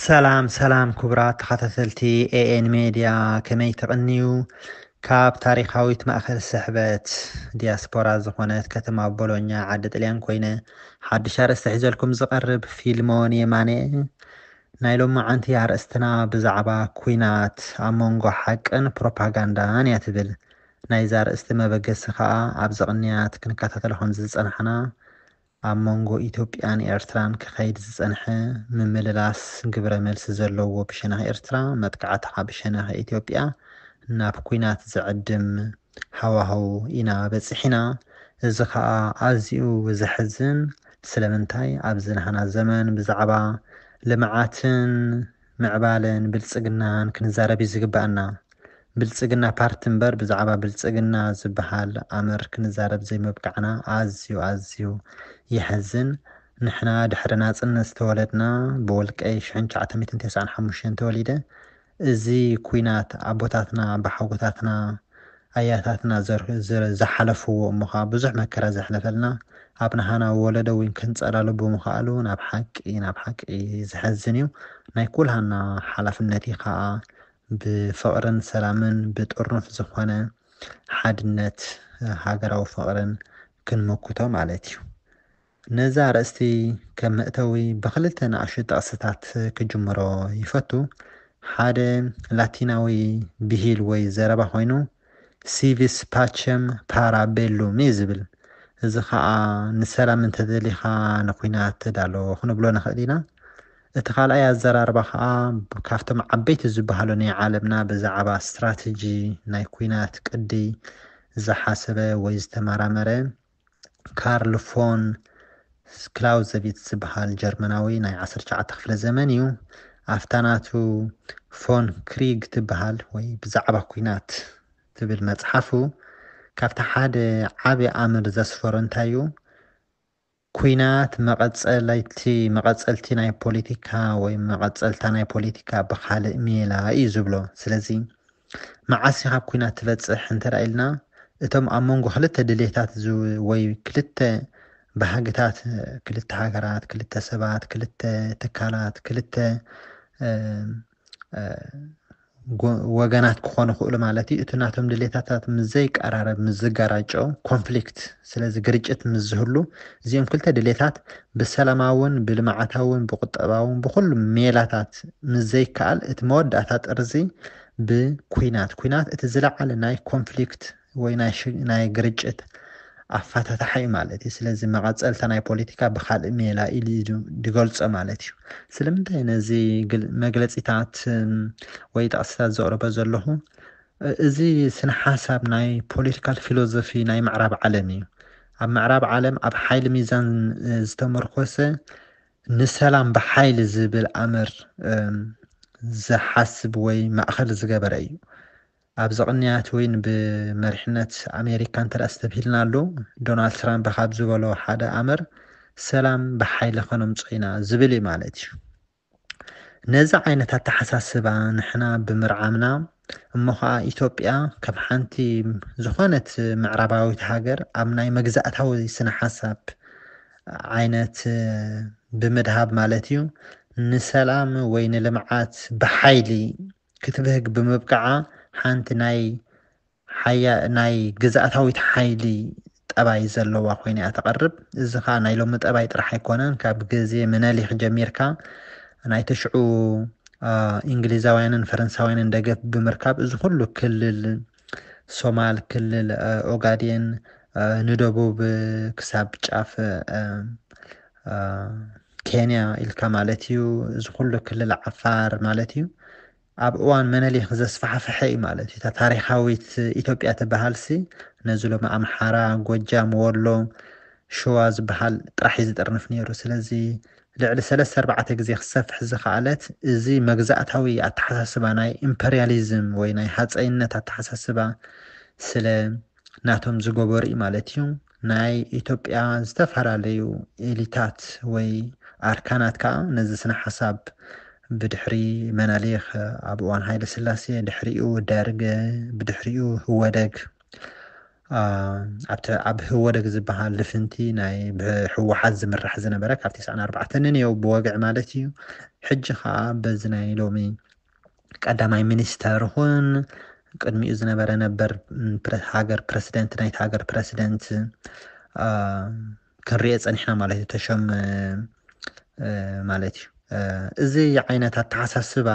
ሰላም ሰላም ክቡራት ተኸታተልቲ ኤኤን ሜድያ ከመይ ተቕንዩ ካብ ታሪካዊት ማእኸል ስሕበት ዲያስፖራ ዝኾነት ከተማ ቦሎኛ ዓዲ ጥልያን ኮይነ ሓድሽ ኣርእስቲ ሒዘልኩም ዝቐርብ ፊልሞን የማነ ናይ ሎማዓንቲ ኣርእስትና ብዛዕባ ኩናት ኣብ መንጎ ሓቅን ፕሮፓጋንዳን እያ ትብል። ናይዚ ኣርእስቲ መበገሲ ከኣ ኣብዚ ቅንያት ክንከታተሎ ከምዝጸናሕና ኣብ መንጎ ኢትዮጵያን ኤርትራን ክኸይድ ዝጸንሐ ምምልላስ ግብረመልሲ ዘለዎ ብሸነኽ ኤርትራ መጥቃዕቲ ብሸነኽ ኢትዮጵያ ናብ ኩናት ዝዕድም ሃዋህው ኢና በጺሒና፣ እዚ ከኣ ኣዝዩ ዘሕዝን፣ ስለምንታይ ኣብዚ ናህና ዘመን ብዛዕባ ልምዓትን ምዕባለን ብልጽግናን ክንዛረብ እዩ ዝግበኣና፣ ብልጽግና ፓርቲ እምበር ብዛዕባ ብልጽግና ዝበሃል ኣምር ክንዛረብ ዘይምብቃዕና ኣዝዩ ኣዝዩ የሕዝን፣ ንሕና ድሕሪ ናጽነት ዝተወለድና ብውልቀይ ሽሕን ትሽዓተ ሚእትን ተስዓን ሓሙሽተን ተወሊደ፣ እዚ ኩናት ኣቦታትና ኣባሓጎታትና ኣያታትና ዝሓለፍዎ እሞ ከኣ ብዙሕ መከራ ዘሕለፈልና ኣብ ናሃና ወለዶ ውን ክንጸላሎ ብምክኣሉ ናብ ሓቂ ናብ ሓቂ ዘሕዝን እዩ ናይ ኩልሃና ሓላፍነት እዩ ከኣ ብፍቅርን ሰላምን ብጥርኑፍ ዝኮነ ሓድነት ሃገራዊ ፍቅርን ክንምክቶ ማለት እዩ። ነዛ ኣርእስቲ ከም መእተዊ ብኽልተ ንኣሽቱ ጥቕስታት ክጅምሮ ይፈቱ። ሓደ ላቲናዊ ብሂል ወይ ዘረባ ኮይኑ ሲቪስ ፓቸም ፓራ ቤሉም እዩ ዝብል። እዚ ኸኣ ንሰላም እንተደሊኻ ንኩናት ተዳሎ ክንብሎ ንኽእል ኢና። እቲ ካልኣይ ኣዘራርባ ኸኣ ካብቶም ዓበይቲ ዝበሃሉ ናይ ዓለምና ብዛዕባ ስትራተጂ ናይ ኩናት ቅዲ ዝሓሰበ ወይ ዝተመራመረ ካርል ፎን ክላውዘቪትዝ ዝበሃል ጀርመናዊ ናይ ዓሰርተ ትሽዓተ ክፍለ ዘመን እዩ ኣብታ ናቱ ፎን ክሪግ ትበሃል ወይ ብዛዕባ ኩናት ትብል መፅሓፉ ካብቲ ሓደ ዓብዪ ኣምር ዘስፈሮ እንታይ እዩ ኩናት መቐፀለይቲ መቐፀልቲ ናይ ፖለቲካ ወይ መቐፀልታ ናይ ፖለቲካ ብካልእ ሜላ እዩ ዝብሎ ስለዚ መዓስ ኢኻ ኣብ ኲናት ትበጽሕ እንተ ኢልና፣ እቶም ኣብ መንጎ ክልተ ድሌታት ወይ ክልተ ባህግታት፣ ክልተ ሃገራት፣ ክልተ ሰባት፣ ክልተ ትካላት፣ ክልተ ወገናት ክኾኑ ይኽእሉ ማለት እዩ። እቲ ናቶም ድሌታታት ምስ ዘይቀራረብ፣ ምስ ዝጋራጮ፣ ኮንፍሊክት፣ ስለዚ ግርጭት ምስ ዝህሉ እዚኦም ክልተ ድሌታት ብሰላማውን ብልምዓታውን ብቁጠባውን ብኹሉ ሜላታት ምስ ዘይከኣል እቲ መወዳእታ ጥርዚ ብኩናት ኩናት እቲ ዝለዓለ ናይ ኮንፍሊክት ወይ ናይ ግርጭት ኣፋታታሓ እዩ ማለት እዩ ስለዚ መቐፀልታ ናይ ፖለቲካ ብካልእ ሜላ ኢሉ እዩ ዝገልፆ ማለት እዩ ስለምንታይ ነዚ መግለፂታት ወይ ጠቕሲታት ዘቕርበ ዘለኹ እዚ ስነ ሓሳብ ናይ ፖለቲካል ፊሎዞፊ ናይ ምዕራብ ዓለም እዩ። ኣብ ምዕራብ ዓለም ኣብ ሓይሊ ሚዛን ዝተመርኮሰ ንሰላም ብሓይሊ ዝብል ኣምር ዝሓስብ ወይ ማእኸል ዝገበረ እዩ። ኣብዚ ቅንያት ወይን ብመሪሕነት ኣሜሪካ እንተ ስተብሂልና ኣሎ ዶናልድ ትራምፕ ካብ ዝበሎ ሓደ ኣምር ሰላም ብሓይሊ ከነምፆ ኢና ዝብል እዩ ማለት እዩ። ነዚ ዓይነት ኣተሓሳስባ ንሕና ብምርዓምና እሞ ኸኣ ኢትዮጵያ ከም ሓንቲ ዝኾነት ምዕራባዊት ሃገር ኣብ ናይ መግዛእታዊ ስነ ሓሳብ ዓይነት ብምድሃብ ማለት እዩ ንሰላም ወይ ንልምዓት ብሓይሊ ክትብህግ ብምብቅዓ ሓንቲ ናይ ሓያ ናይ ግዝኣታዊት ሓይሊ ጠባይ ዘለዋ ኮይና እያ ተቐርብ። እዚ ከኣ ናይ ሎሚ ጠባይ ጥራሕ ኣይኮነን፣ ካብ ግዜ ምነሊክ ጀሚርካ ናይ ተሽዑ እንግሊዛውያንን ፈረንሳውያንን ደገፍ ብምርካብ እዚ ኩሉ ክልል ሶማል፣ ክልል ኦጋዴን ንደቡብ ክሳብ ጫፍ ኬንያ ኢልካ ማለት እዩ፣ እዚ ኩሉ ክልል ዓፋር ማለት እዩ ኣብ እዋን መነሊክ ዘስፋሕፈሐ እዩ ማለት እዩ። እታ ታሪኻዊት ኢትዮጵያ ትበሃልሲ ነዚ ሎሚ ኣምሓራ፣ ጎጃም፣ ወሎ፣ ሸዋ ዝበሃል ጥራሕ እዩ ዝጥርንፍ ነይሩ። ስለዚ ልዕሊ ሰለስተ ኣርባዕተ ግዜ ክሰፍሕ ዝኸኣለት እዚ መግዛእታዊ ኣተሓሳስባ ናይ ኢምፐርያሊዝም ወይ ናይ ሃጸይነት ኣተሓሳስባ ስለ ናቶም ዝገበሩ እዩ ማለት እዩ። ናይ ኢትዮጵያ ዝተፈላለዩ ኤሊታት ወይ ኣርካናት ከኣ ነዚ ስነ-ሓሳብ ብድሕሪ መነሊክ፣ ኣብ እዋን ሃይለስላሴ፣ ድሕሪኡ ደርግ፣ ብድሕሪኡ ህወደግ፣ ኣብቲ ኣብ ህወደግ ዝበሃል ልፍንቲ ናይ ብህወሓት ዝምራሕ ዝነበረ ካብ ቴስዓን ኣርባዕተንን እዮ ብወግዒ ማለት እዩ ሕጂ ከኣ በዚ ናይ ሎሚ ቀዳማይ ሚኒስተር ይኹን ቅድሚኡ ዝነበረ ነበር ሃገር ፕረሲደንት ናይቲ ሃገር ፕረሲደንት ክንሪኦ ፀኒሕና ማለት እዩ ተሾም ማለት እዩ እዚ ዓይነት ኣተሓሳስባ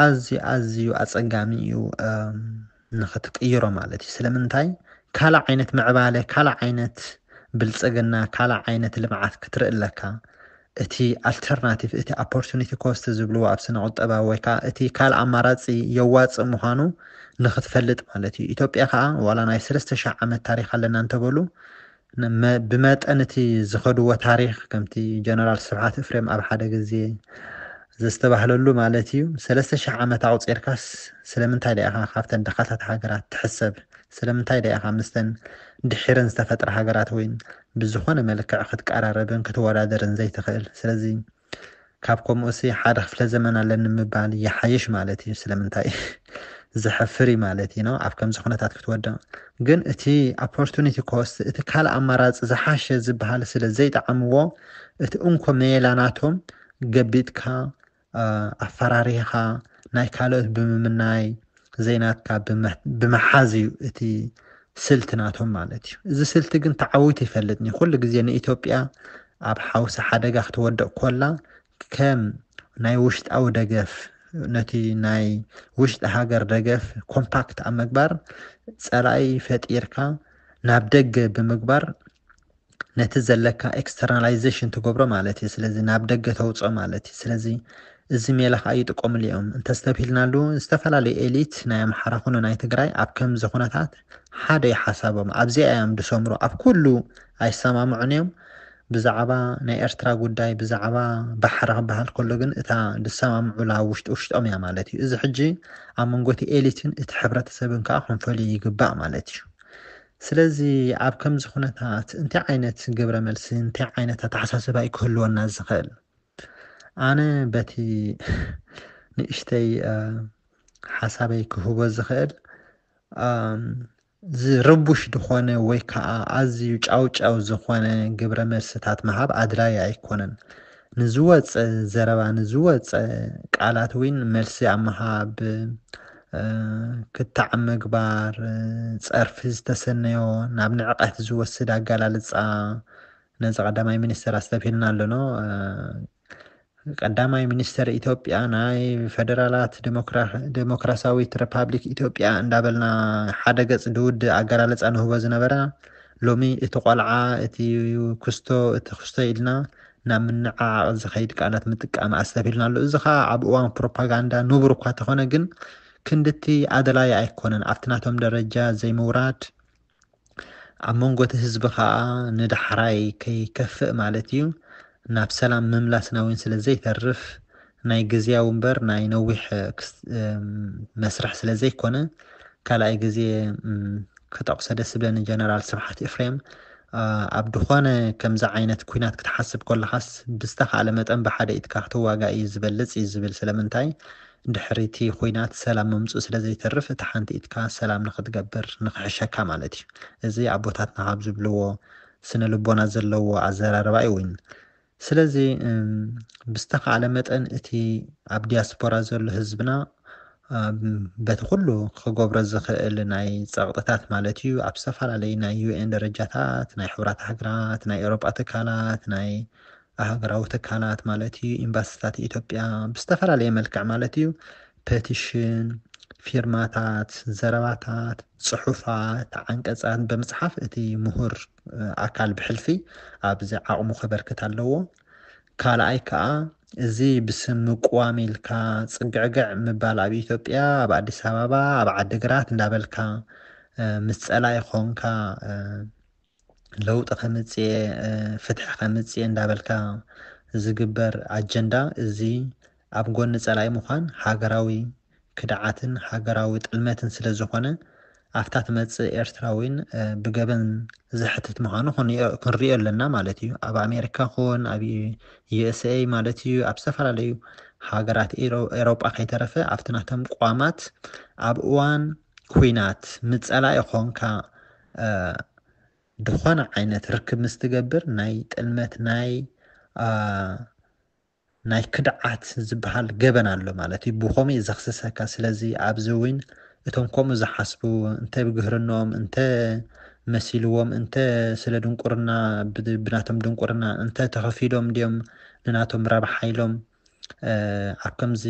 ኣዝዩ ኣዝዩ ኣፀጋሚ እዩ ንክትቅይሮ ማለት እዩ ስለምንታይ ካልእ ዓይነት ምዕባለ ካልእ ዓይነት ብልፅግና ካልእ ዓይነት ልምዓት ክትርኢ ኣለካ እቲ ኣልተርናቲቭ እቲ ኣፖርቱኒቲ ኮስት ዝብልዎ ኣብ ስነ ቁጠባ ወይ ከዓ እቲ ካልእ ኣማራፂ የዋፅእ ምዃኑ ንክትፈልጥ ማለት እዩ ኢትዮጵያ ከዓ ዋላ ናይ ሰለስተ ሽሕ ዓመት ታሪክ ኣለና እንተበሉ ብመጠን እቲ ዝኸድዎ ታሪኽ ከምቲ ጀነራል ስብሓት እፍሬም ኣብ ሓደ ግዜ ዘስተባህለሉ ማለት እዩ ሰለስተ ሽሕ ዓመት ኣቑፂርካስ ስለምንታይ ዶ ኢኻ ካብተን ድኻታት ሃገራት ትሕሰብ? ስለምንታይ ዶ ኢኻ ምስተን ድሒረን ዝተፈጥራ ሃገራት እውን ብዝኾነ መልክዕ ክትቀራረብን ክትወዳደርን ዘይትኽእል? ስለዚ ካብ ኮሙኡሲ ሓደ ክፍለ ዘመን ኣለኒ ምባል ይሓይሽ ማለት ኢዩ ስለምንታይ ዘሕፍር ኢዩ ማለት ኢዩ ኣብ ከምዚ ኩነታት ክትወድቕ ግን እቲ ኣፖርቱኒቲ ኮስት እቲ ካልእ ኣማራጺ ዝሓሸ ዝበሃል ስለ ዘይጠዓምዎ እቲ እንኮ መየላ ናቶም ገቢጥካ ኣፈራሪህኻ ናይ ካልኦት ብምምናይ ዘይናትካ ብምሓዝ እዩ እቲ ስልቲ ናቶም ማለት እዩ። እዚ ስልቲ ግን ተዓዊቱ ይፈልጥን እዩ። ኩሉ ግዜ ንኢትዮጵያ ኣብ ሓውሲ ሓደጋ ክትወድቕ ኮላ ከም ናይ ውሽጣዊ ደገፍ ነቲ ናይ ውሽጢ ሃገር ደገፍ ኮምፓክት ኣብ ምግባር ፀላኢ ፈጢርካ ናብ ደገ ብምግባር ነቲ ዘለካ ኤክስተርናላይዘሽን ትገብሮ ማለት እዩ ስለዚ ናብ ደገ ተውጽኦ ማለት እዩ ስለዚ እዚ ሜላ ከዓ ይጥቀምሉ እዮም እንተስተብሂልናሉ ዝተፈላለዩ ኤሊት ናይ ኣምሓራ ኩኑ ናይ ትግራይ ኣብ ከምዚ ኩነታት ሓደ እዩ ሓሳቦም ኣብዚኣ እዮም ዝሰምሩ ኣብ ኩሉ ኣይሰማምዑን እዮም ብዛዕባ ናይ ኤርትራ ጉዳይ ብዛዕባ ባሕሪ ክበሃል ከሎ ግን እታ ዝሰማምዑላ ውሽጢ ውሽጦም እያ ማለት እዩ እዚ ሕጂ ኣብ መንጎ እቲ ኤሊትን እቲ ሕብረተሰብን ከዓ ክንፈልዩ ይግባእ ማለት እዩ ስለዚ ኣብ ከምዚ ኩነታት እንታይ ዓይነት ግብረ መልሲ እንታይ ዓይነት ኣተሓሳስባ እዩ ክህልወና ዝኽእል? ኣነ በቲ ንእሽተይ ሓሳበይ ክህቦ ዝኽእል ዝርቡሽ ዝኾነ ወይ ከዓ ኣዝዩ ጫውጫው ዝኾነ ግብረ መልስታት ምሃብ ኣድላይ ኣይኮነን ንዝወጸ ዘረባ ንዝወጸ ቃላት እውን መልሲ ኣብ ምሃብ ክታዕ ምግባር፣ ጸርፊ ዝተሰነዮ ናብ ንዕቀት ዝወስድ ኣገላልጻ ነዚ ቀዳማይ ሚኒስተር ኣስተብሂልና ኣሎኖ። ቀዳማይ ሚኒስተር ኢትዮጵያ ናይ ፈደራላት ዴሞክራሲያዊት ሪፓብሊክ ኢትዮጵያ እንዳበልና ሓደ ገጽ ድውድ ኣገላልጻ ንህቦ ዝነበራ ሎሚ እቲ ቆልዓ እቲ ኩስቶ እቲ ኩስቶ ኢልና ናብ ምንዕዓቕ ዝኸይድ ቃላት ምጥቃም ኣስተብሂልና ኣሎ። እዚ ኸኣ ኣብ እዋን ፕሮፓጋንዳ ንቡር እኳ ተኾነ ግን ክንድቲ ኣድላዪ ኣይኮነን። ኣብቲ ናቶም ደረጃ ዘይምውራድ ኣብ መንጎ እቲ ህዝቢ ኸኣ ንዳሕራይ ከይከፍእ ማለት እዩ ናብ ሰላም ምምላስና እውን ስለ ዘይተርፍ ናይ ግዝያዊ እምበር ናይ ነዊሕ መስርሕ ስለ ዘይኮነ ካልኣይ ግዜ ክጠቅሶ ደስ ዝብለኒ ጀነራል ስብሓት ኤፍሬም ኣብ ድኾነ ከምዚ ዓይነት ኩናት ክትሓስብ ኮለኻስ ብዝተኻእለ መጠን ብሓደ ኢድካ ክትዋጋእ እዩ ዝበልጽ እዩ ዝብል ስለምንታይ ድሕሪ እቲ ኩናት ሰላም ምምጽኡ ስለ ዘይተርፍ እቲ ሓንቲ ኢድካ ሰላም ንክትገብር ንክሕሸካ ማለት እዩ እዚ ኣቦታትና ካብ ዝብልዎ ስነ ልቦና ዘለዎ ኣዘራርባ እዩ ስለዚ ብዝተኻእለ መጠን እቲ ኣብ ዲያስፖራ ዘሎ ህዝብና በቲ ኩሉ ክገብሮ ዝኽእል ናይ ፀቕጥታት ማለት እዩ ኣብ ዝተፈላለዩ ናይ ዩኤን ደረጃታት ናይ ሕብራት ሃገራት ናይ ኤውሮጳ ትካላት ናይ ሃገራዊ ትካላት ማለት እዩ ኤምባሲታት ኢትዮጵያ ብዝተፈላለየ መልክዕ ማለት እዩ ፐቲሽን ፊርማታት ዘረባታት ፅሑፋት ዓንቀፃት ብምፅሓፍ እቲ ምሁር ኣካል ብሕልፊ ኣብዚ ዓቕሙ ከበርክት ኣለዎ። ካልኣይ ከኣ እዚ ብስም ምቁዋም ኢልካ ጽግዕግዕ ምባል ኣብ ኢትዮጵያ ኣብ ኣዲስ ኣበባ ኣብ ዓዲግራት እንዳበልካ ምስ ጸላኢ ኾንካ ለውጢ ከምጽኤ ፍትሒ ከምጽኤ እንዳበልካ ዝግበር ኣጀንዳ እዚ ኣብ ጎኒ ጸላኢ ምዃን ሃገራዊ ክድዓትን ሃገራዊ ጥልመትን ስለ ዝኾነ፣ ኣብታ ትመጽእ ኤርትራ'ውን ብገበን ዘሕትት ምዃኑ ክንሪኦ ኣለና ማለት ኢዩ። ኣብ ኣሜሪካ ኩን ኣብ USA ማለት ኢዩ ኣብ ዝተፈላለዩ ሃገራት ኤሮጳ ከይተረፈ ኣብቲ ናቶም ቅዋማት ኣብ እዋን ኩናት ምስ ጸላኢ ኮንካ ዝኾነ ዓይነት ርክብ ምስ ትገብር ናይ ጥልመት ናይ ናይ ክድዓት ዝብሃል ገበን ኣሎ ማለት እዩ ብኮምኡ እዩ ዘክስሰካ ስለዚ ኣብዚ ዊን እቶም ኮምኡ ዝሓስቡ እንተ ብግህርኖኦም እንተ መሲልዎም እንተ ስለ ድንቁርና ብናቶም ድንቁርና እንተ ተኸፊሎም ድዮም ንናቶም ረብሓ ኢሎም ኣብ ከምዚ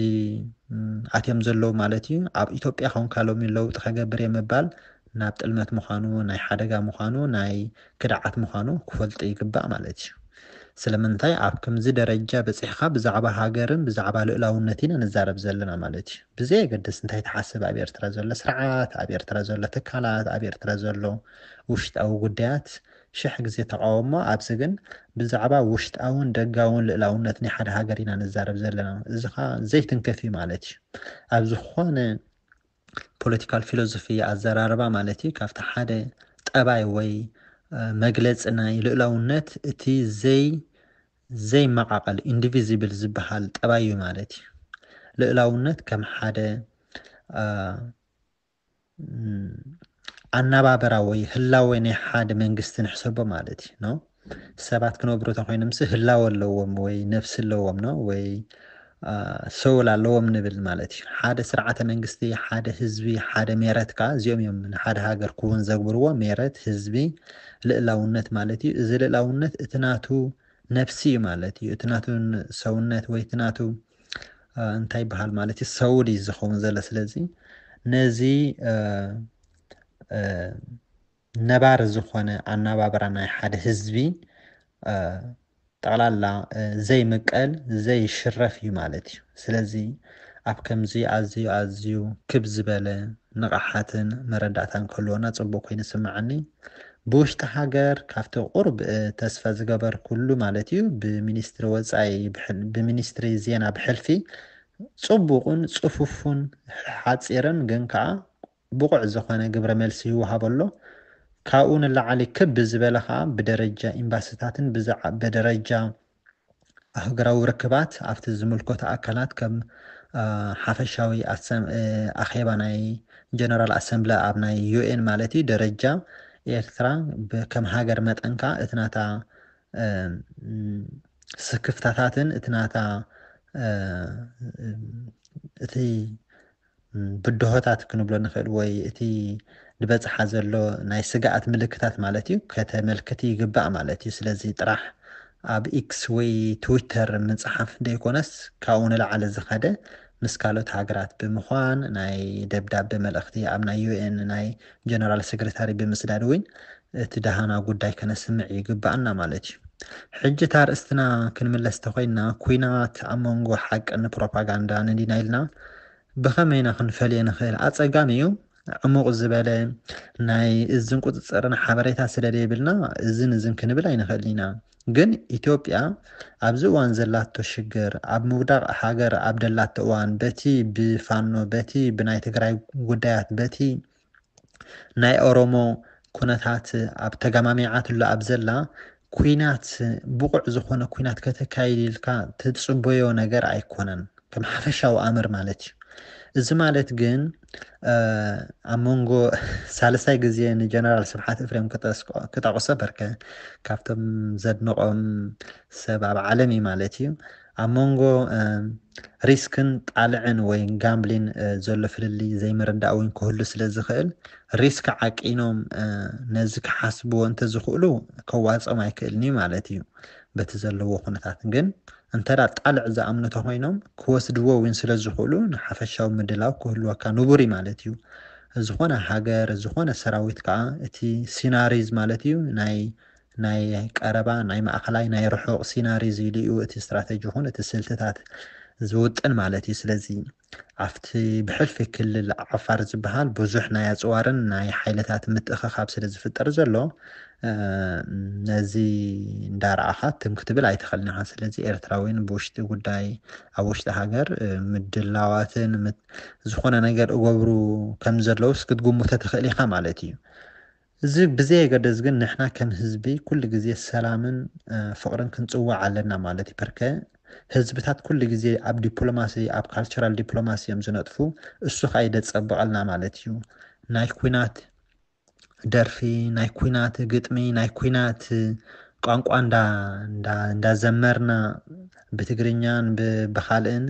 ኣትዮም ዘለዉ ማለት እዩ ኣብ ኢትዮጵያ ኮንካ ሎሚ ለውጢ ከገብር እየ ምባል ናብ ጥልመት ምዃኑ፣ ናይ ሓደጋ ምዃኑ፣ ናይ ክድዓት ምዃኑ ክፈልጡ ይግባእ ማለት እዩ። ስለምንታይ ኣብ ከምዚ ደረጃ በጺሕካ ብዛዕባ ሃገርን ብዛዕባ ልኡላውነት ኢና ንዛረብ ዘለና ማለት እዩ። ብዘየገድስ እንታይ ትሓስብ ኣብ ኤርትራ ዘሎ ስርዓት፣ ኣብ ኤርትራ ዘሎ ትካላት፣ ኣብ ኤርትራ ዘሎ ውሽጣዊ ጉዳያት ሽሕ ግዜ ተቓወሞ ኣብዚ ግን ብዛዕባ ውሽጣውን ደጋውን ልእላውነት ናይ ሓደ ሃገር ኢና ንዛረብ ዘለና። እዚ ከኣ ዘይትንክፍ እዩ ማለት እዩ። ኣብ ዝኾነ ፖለቲካል ፊሎዞፊ ኣዘራርባ ማለት እዩ ካብቲ ሓደ ጠባይ ወይ መግለፂ ናይ ልእላውነት እቲ ዘይ ዘይመቓቐል ኢንዲቪዚብል ዝበሃል ጠባይ እዩ ማለት እዩ ልእላውነት ከም ሓደ ኣናባበራ ወይ ህላወ ናይ ሓደ መንግስቲ ንሕሰቦ ማለት እዩ ሰባት ክነብሩ ተኾይኖምሲ ህላወ ኣለዎም ወይ ነፍሲ ኣለዎም ኖ ወይ ሰውል ኣለዎም ንብል ማለት እዩ ሓደ ስርዓተ መንግስቲ ሓደ ህዝቢ ሓደ ሜረት ከዓ እዚኦም እዮም ንሓደ ሃገር ክውን ዘግብርዎ ሜረት ህዝቢ ልእላውነት ማለት እዩ እዚ ልእላውነት እቲ ናቱ ነፍሲ እዩ ማለት እዩ እቲ ናቱ ሰውነት ወይ እቲ ናቱ እንታይ ይበሃል ማለት እዩ ሰውል እዩ ዝኸውን ዘሎ ስለዚ ነዚ ነባሪ ዝኾነ ኣናባብራ ናይ ሓደ ህዝቢ ጠቕላላ ዘይምቀል ዘይሽረፍ እዩ ማለት እዩ። ስለዚ ኣብ ከምዚ ኣዝዩ ኣዝዩ ክብ ዝበለ ንቕሓትን መረዳእታን ክህልወና ጽቡቕ ኮይኑ ይስምዓኒ። ብውሽጢ ሃገር ካብቲ ቁሩብ ተስፋ ዝገበርኩሉ ማለት እዩ ብሚኒስትሪ ወጻኢ ብሚኒስትሪ ዜና ብሕልፊ ጽቡቕን ጽፉፉን ሓጺርን ግን ከኣ ብቑዕ ዝኾነ ግብረ መልሲ ይወሃቦ ኣሎ። ካብኡ ንላዕሊ ክብ ብዝበለ ከኣ ብደረጃ ኤምባሲታትን ብደረጃ ኣህጉራዊ ርክባት ኣብቲ ዝምልከቶ ኣካላት ከም ሓፈሻዊ ኣኼባ ናይ ጀነራል ኣሰምብለ ኣብ ናይ ዩኤን ማለት እዩ ደረጃ ኤርትራ ከም ሃገር መጠን ከኣ እቲ ናታ ስክፍታታትን እቲ ናታ እቲ ብድሆታት ክንብሎ ንኽእል ወይ እቲ ድበጽሓ ዘሎ ናይ ስግኣት ምልክታት ማለት እዩ ከተመልክቲ ይግባእ ማለት እዩ ስለዚ ጥራሕ ኣብ ኢክስ ወይ ትዊተር ምጽሓፍ ደይኮነስ ካብኡ ንላዕሊ ዝኸደ ምስ ካልኦት ሃገራት ብምዃን ናይ ደብዳበ መልእኽቲ ኣብ ናይ ዩኤን ናይ ጀነራል ሰግረታሪ ብምስዳድ እውን እቲ ደሃና ጉዳይ ከነስምዕ ይግበኣና ማለት እዩ። ሕጂ እታ ኣርእስትና ክንምለስ ተኮይንና ኩናት ኣብ መንጎ ሓቂ ን ፕሮፓጋንዳ ን ዲና ኢልና ብከመይ ኢና ክንፈልዮ ንክእል ኣጸጋሚ እዩ ዕሙቅ ዝበለ ናይ እዝን ቁጽጽርን ሓበሬታ ስለ ደይብልና እዝን እዝን ክንብል ኣይንክእልን ኢና ግን ኢትዮጵያ ኣብዚ እዋን ዘላቶ ሽግር ኣብ ምውዳቅ ሃገር ኣብ ደላቶ እዋን በቲ ብፋኖ በቲ ብናይ ትግራይ ጉዳያት በቲ ናይ ኦሮሞ ኩነታት ኣብ ተጋማሚዓትሉ ኣብ ዘላ ኩናት ብቑዕ ዝኾነ ኩናት ከተካይድ ኢልካ ትጽበዮ ነገር ኣይኮነን ከም ሓፈሻዊ ኣምር ማለት እዩ እዚ ማለት ግን ኣብ መንጎ ሳልሳይ ግዜ ንጀነራል ስብሓት እፍሬም ክጠቕሶ በርከ ካብቶም ዘድንቖም ሰብ ኣብ ዓለም እዩ ማለት እዩ ኣብ መንጎ ሪስክን ጣልዕን ወይ ጋምብሊን ዘሎ ፍልልይ ዘይምርዳእ እውን ክህሉ ስለ ዝኽእል ሪስክ ዓቂኖም ነዚ ክሓስብዎ እንተዝኽእሉ ከዋፅኦም ኣይክእልን እዩ ማለት እዩ በቲ ዘለዎ ኩነታት ግን እንተ ጣልዕ ዝኣምኑ ተኮይኖም ክወስድዎ እውን ስለ ዝኽእሉ ንሓፈሻዊ ምድላው ክህልወካ ንቡር እዩ ማለት እዩ ዝኾነ ሃገር ዝኾነ ሰራዊት ከዓ እቲ ሲናሪዝ ማለት እዩ ናይ ናይ ቀረባ፣ ናይ ማእኸላይ፣ ናይ ርሑቕ ሲናሪዝ ኢሉ እዩ እቲ ስትራተጂ ይኹን እቲ ስልትታት ዝውጥን ማለት እዩ። ስለዚ ኣብቲ ብሕልፊ ክልል ዓፋር ዝበሃል ብዙሕ ናይ ኣፅዋርን ናይ ሓይልታት ምትእኽኻብ ስለዝፍጠር ዘሎ ነዚ እንዳረኣኻ ትም ክትብል ኣይትኽእልን ኢኻ። ስለዚ ኤርትራውያን ብውሽጢ ጉዳይ ኣብ ውሽጢ ሃገር ምድላዋትን ዝኾነ ነገር እገብሩ ከም ዘለውስ ክትግምቶ ትኽእል ኢኻ ማለት እዩ። እዚ ብዘየገድስ ግን ንሕና ከም ህዝቢ ኩሉ ግዜ ሰላምን ፍቅርን ክንጽውዕ ኣለና ማለት እዩ ፐርከ ህዝብታት ኩሉ ግዜ ኣብ ዲፕሎማሲ ኣብ ካልቸራል ዲፕሎማሲ እዮም ዝነጥፉ እሱ ከኣ ይደጸብቀልና ማለት እዩ ናይ ኩናት ደርፊ ናይ ኩናት ግጥሚ ናይ ኩናት ቋንቋ እንዳ እንዳ ዘመርና ብትግርኛን ብካልእን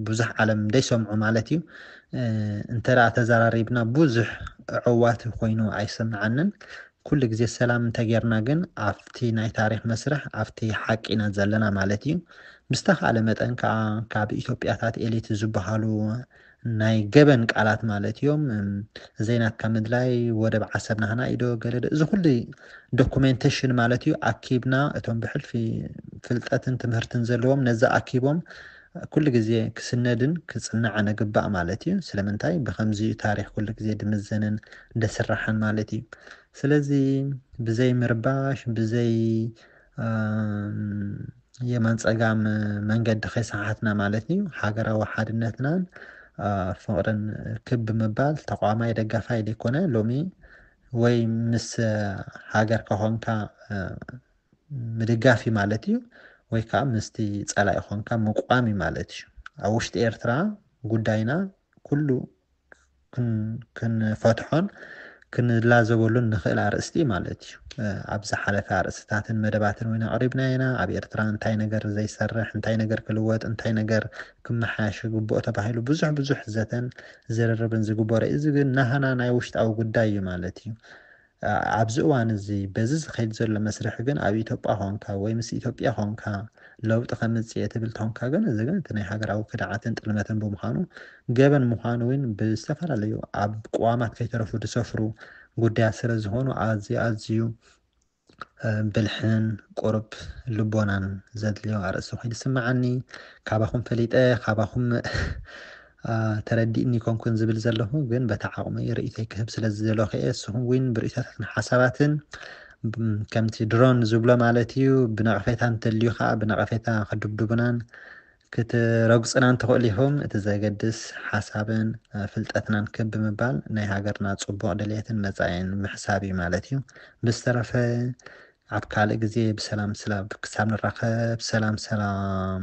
ብዙሕ ዓለም ደይሰምዑ ማለት እዩ እንተ ተዘራሪብና ብዙሕ ዕዋት ኮይኑ ኣይሰምዓንን ኩሉ ግዜ ሰላም እንተጌርና ግን ኣብቲ ናይ ታሪክ መስርሕ ኣብቲ ሓቂ ኢና ዘለና ማለት እዩ ብዝተካእለ መጠን ከዓ ካብ ኢትዮጵያታት ኤሊት ዝበሃሉ ናይ ገበን ቃላት ማለት ኢዮም ዘይናትካ ምድላይ ወደብ ዓሰብ ናህና ኢዩ ዶ ገለ ዶ እዚ ኩሉ ዶኩመንተሽን ማለት ኢዩ ኣኪብና እቶም ብሕልፊ ፍልጠትን ትምህርትን ዘለዎም ነዚ ኣኪቦም ኩሉ ግዜ ክስነድን ክጽናዕን እግባእ ማለት ኢዩ ስለምንታይ ብከምዚ ኢዩ ታሪክ ኩሉ ግዜ ድምዘንን ደስራሕን ማለት ኢዩ ስለዚ ብዘይ ምርባሽ ብዘይ የማን ጸጋም መንገዲ ከይሰሓትና ማለት እዩ ሃገራዊ ሓድነትናን ፍቕርን ክብ ምባል ተቋማይ ደጋፋይ ዘይኮነ ሎሚ ወይ ምስ ሃገር ከኾንካ ምድጋፍ እዩ ማለት እዩ ወይ ከዓ ምስቲ ፀላኢ ኾንካ ምቋም እዩ ማለት እዩ ኣብ ውሽጢ ኤርትራ ጉዳይና ኩሉ ክንፈትሖን ክንላዘበሉን ንኽእል ኣርእስቲ ማለት እዩ። ኣብ ዝሓለፈ ኣርእስትታትን መደባትን እውን ኣቕሪብናዮ ኢና። ኣብ ኤርትራ እንታይ ነገር ዘይሰርሕ፣ እንታይ ነገር ክልወጥ፣ እንታይ ነገር ክመሓየሽ ይግብኦ ተባሂሉ ብዙሕ ብዙሕ ዘተን ዝርርብን ዝግበሮ እዩ። እዚ ግን ናህና ናይ ውሽጣዊ ጉዳይ እዩ ማለት እዩ። ኣብዚ እዋን እዚ በዚ ዝኸይድ ዘሎ መስርሕ ግን ኣብ ኢትዮጵያ ኾንካ ወይ ምስ ኢትዮጵያ ኾንካ ለውጢ ከምጽእ እየ ትብል ተኾንካ ግን እዚ ግን እቲ ናይ ሃገራዊ ክድዓትን ጥልመትን ብምዃኑ ገበን ምዃኑ እውን ብዝተፈላለዩ ኣብ ቅዋማት ከይተረፉ ዝሰፍሩ ጉዳያት ስለ ዝኾኑ ኣዝዩ ኣዝዩ ብልሕን ቁርብ ልቦናን ዘድልዮ ኣርእስቲ ኮይኑ ይስምዓኒ ካባኹም ፈሊጠ ካባኹም ተረዲእኒ ኣይኮንኩን ዝብል ዘለኹ ግን በታ ዓቕመይ ርእይቶይ ክህብ ስለ ዝደለኹ እየ እስኹም ውን ብርእይቶታትን ሓሳባትን ከምቲ ድሮን ዝብሎ ማለት እዩ ብነቐፌታ እንተልዩ ከዓ ብነቐፌታ ክድብድቡናን ክትረግፅናን ትኽእሉ ኢኹም እቲ ዘገድስ ሓሳብን ፍልጠትናን ክብ ብምባል ናይ ሃገርና ፅቡቕ ድሌትን መፃኢን ምሕሳብ እዩ ማለት እዩ ብዝተረፈ ኣብ ካልእ ግዜ ብሰላም ስላብ ክሳብ ንራኸብ ሰላም ሰላም